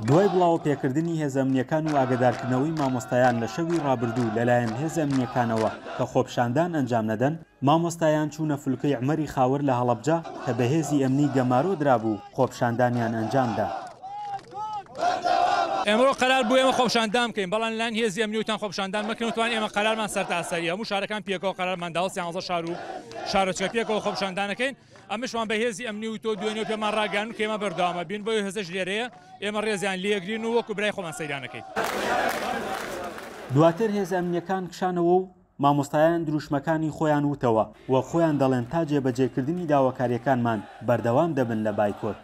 دوای بڵاوە پێکردنی هێزە ئەمنیەکان و ئاگدارکردنەوەی مامۆستایان لە شەوی ڕابردوو لەلایەن هێزە ئەمنیەکانەوە کە خۆپشاندان ئەنجام نەدەن مامۆستایان چوونە فلکەی عمەری خاوەر لە هەڵەبجە کە بەهێزی ئەمنی گەمارۆ درابوو خۆپشاندانیان ئەنجامدا. ئێمە قەرار بوو ئێمە خۆپشاندان بکەین بەڵام لەلایەن هێزی ئەمنی وتان خۆپشاندان مەکەن وتمان ئێمە قەرارمان سەرتاسەرییە هەموو شارەکان پێکەوە قەرارمان داوە سیانزە شار و شارۆچکە پێکەوە خۆپشاندانەکەین ئەمەشمان بە هێزی ئەمنی و تۆ دوێنێ پێمان ڕاگەیاندن کە ئێمە بەردەوامە بین، بۆیە هێزەش لێرەیە، ئێمە ڕێزیان لێگرین و وەکو برای خۆمان سەیران ئەکەین. دواتر هێزە ئەمنییەکان کشانەوە و مامۆستایان دروشمەکانی خۆیان وتەوە و خۆیان دەڵێن تا جێبەجێکردنی داواکارییەکانمان بەردەوام دەبن لە بایکۆت.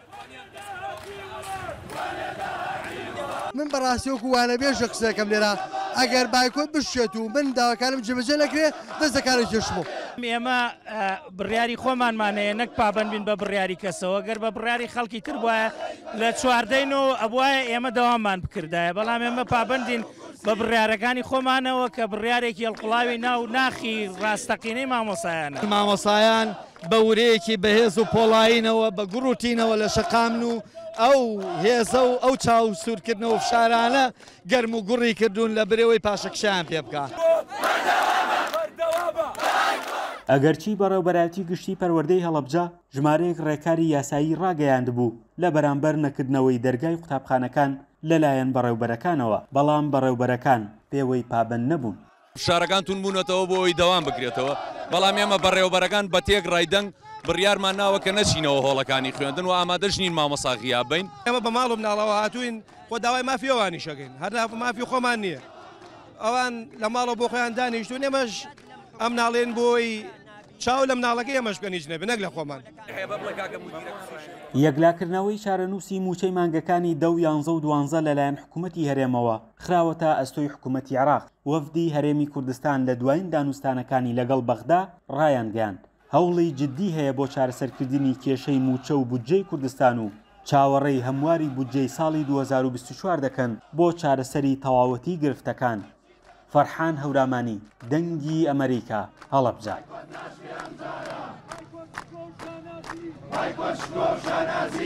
من بەڕاستی وەکو وانەبێژە قسەکەم لێرە ئەگەر بایکۆت بشێت و من داواکارم جێبەجێ نەکرێ دەست دەکارە کێشمەوە. ئێمە بڕیاری خۆمانمان هەیە نەک پابەند بین بە بڕیاری کەسەوە، گەر بە بڕیاری خەڵکی تر بوایە لە چواردەی نۆوە ئەبوایە ئێمە دەواممان بکردایە، بەڵام ئێمە پابەندین بە بڕیارەکانی خۆمانەوە کە بڕیارێکی هەڵقوڵاوی ناو ناخی ڕاستەقینەی مامۆسایانە. مامۆسایان بە ورەیەکی بەهێز و پۆڵایینەوە بە گوڕ و تینەوە لە شەقامن و ئەو هێزە و ئەو چاو سوورکردنە و فشارانە گەرم و گوڕی کردوون لە برەوەی پاشەکشەیان پێ بکا. ئەگەرچی بەڕێوبەرایەتی گشتی پەروەردەی هەڵەبجە ژمارەیەک ڕێکاری یاسایی ڕاگەیاندبوو لە بەرامبەر نەکردنەوەی دەرگای قوتابخانەکان لەلایەن بەڕێوبەرەکانەوە، بەڵام بەڕێوبەرەکان پێوەی پابەند نەبوون. فشارەکان توند بوونەتەوە بۆ ئەوەی دەوام بکرێتەوە، بەڵام ئێمە بەڕێوەبەرەکان بە تێکڕای دەنگ بڕیارمان ناوە کە نەچینەوە هۆڵەکانی خوێندن و ئامادەش نین مامۆستا غیاب بین. ئێمە بە ماڵ و مناڵەوە هاتووین، خۆ داوای مافی ئەوانیش ئەکەین، هەر مافی خۆمان نییە. ئەوان لە ماڵەوە بۆ خۆیان دانیشتوون، ئێمەش ئەم ناڵێن بۆ ئەوەی چاو لە مناڵەکەی ئێمەش بکەن هیچ نەبێت، نەک لە خۆمان. یەکلاکردنەوەی چارەنووسی مووچەی مانگەکانی دە و یانزە و دوانزە لەلایەن حکوومەتی هەرێمەوە. خراوەتە ئەستۆی حکوومەتی عێراق. وەفدی هەرێمی کوردستان لە دوایین دانوستانەکانی لەگەڵ بەغدا ڕایانگەیاند، هەوڵی جددی هەیە بۆ چارەسەرکردنی کێشەی مووچە و بودجەی کوردستان و چاوەڕێی هەمواری بودجەی ساڵی دوو هەزار و بیست و چوار دەکەن بۆ چارەسەری تەواوەتی گرفتەکان. فەرحان هەورامانی، دەنگی ئەمەریکا، هەڵەبجە.